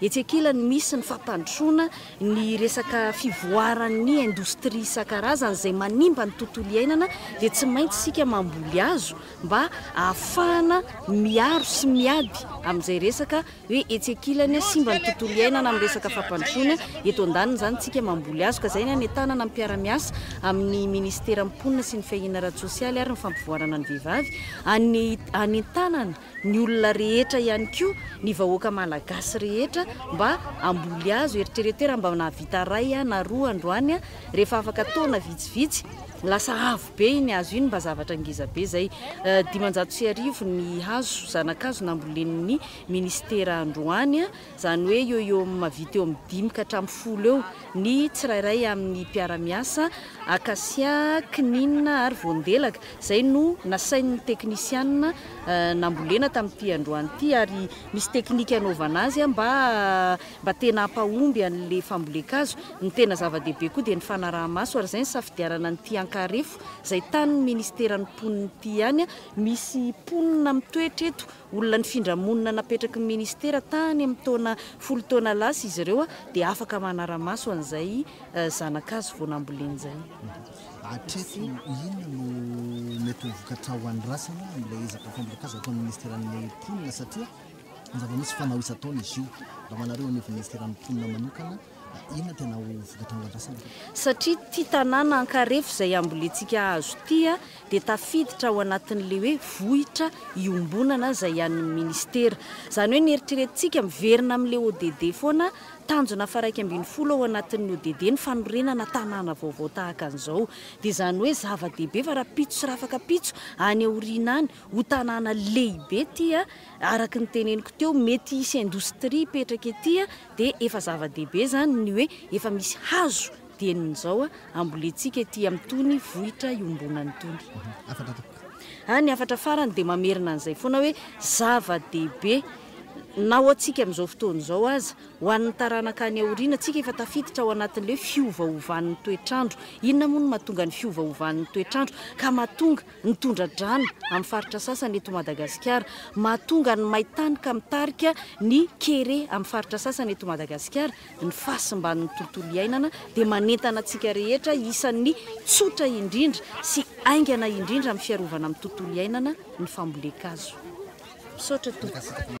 Etsy ankilany misy ny fampandrosoana ny resaka fivoaran'ny indostria isan-karazany izay manimba ny tontolo iainana dia tsy maintsy isika mamboly hazo mba ahafahana miaro sy miady amin'izay resaka hoe etsy ankilany simba ny tontolo iainana amin'ny resaka fampandrosoana, eto andaniny izany isika mamboly hazo ka izay ny hanentanana ny mpiara-miasa amin'ny minisiteran'ny mponina sy ny fiahiana ara-tsosialy ary ny fampivoarana ny vehivavy, hanentanana. ny olona rehetra ihany koa, ny vahoaka malagasy rehetra mba hamboly azy. Eritrereto hoe raha mba nahavita iray na roa androany, rehefa afaka taona vitsivitsy, lasa avo be iny hazo iny, mba zavatra ngeza be izay. Dimanjato sy arivo ny hazo, zanakazo nambolen'ny minisitera androany. izany hoe eo eo amin'ny mahavita eo amin'ny dimy ka hatramin'ny folo eo ny tsirairay amin'ny mpiara-miasa, Acacia, Cnin ary Voandelaka, izay no nasain'ny teknisiana nambolena tamin'ity androany ity ary misy teknika anaovana azy mba mba tena hampahomby an'ilay fambolen-kazo. Ny tena zava-dehibe koa dia ny fanaraha-maso ary izay ny safidianana an'ity Ankarefo izay tanin'ny ministeran'ny mponina ity ihany, misy mponina mitoetra eto Olona nifindra monina napetraky ny Ministera tany amin'ny taona folo taona lasa izy ireo dia afaka manara-maso an'izay zanakazo vao namboleny izay. Hatreto, inona no mety ho vokatra ho an'ny Ratsana amin'ilay ezaka fampielin-kazo ataon'ny Ministeran'ny Mponina satria zava-misy fanao isan-taona izy io. Raha manareo anivon'ny Ministeran'ny Mponina manokana, Inona tena ho vokatra ho andrasana? Satria ity tanàna ankarefo izay ambolentsika hazo ity dia tafiditra ao anatin'ilay hoe vohitra iombonana izay an'ny Ministera. Izany hoe ny eritreretintsika miverina amin'ilay ODD foana, tanjona faharaika ambin'ny folo ao anatin'ny ODD ny fanorenana tanàna vaovao tahaka an'izao. Dia izany hoe zava-dehibe fa rahampitso sy rafakampitso any aoriana any ho tanàna lehibe ity, araka ny teneniko teo, mety hisy indostria hipetraka ety Dia efa zava-dehibe izany ny hoe efa misy hazo dieny izao ambolentsika ety amin'itony vohitra iombonana itony. Hafatra tompoko. Ary ny hafatra farany dia mamerina an'izay foana hoe zava-dehibe na ho antsika amin'izao fotoana izao aza, ho an'ny taranaka any aoriana, tsika efa tafiditra ao anatin'ilay hoe fiovaovan'ny toetr'andro. Inona moa no mahatonga ny fiovaovan'ny toetr'andro ka mahatonga ny tondra-drano amin'ny faritra sasany eto Madagasikara. Mahatonga ny main-tany ka mitarika ny kere amin'ny faritra sasany eto Madagasikara. Ny fahasimban'ny tontolo iainana dia manentana antsika rehetra isan'ny tsotra indrindra sy haingana indrindra amin'ny fiarovana amin'ny tontolo iainana ny fambolen-kazo. Misaotra Tompo.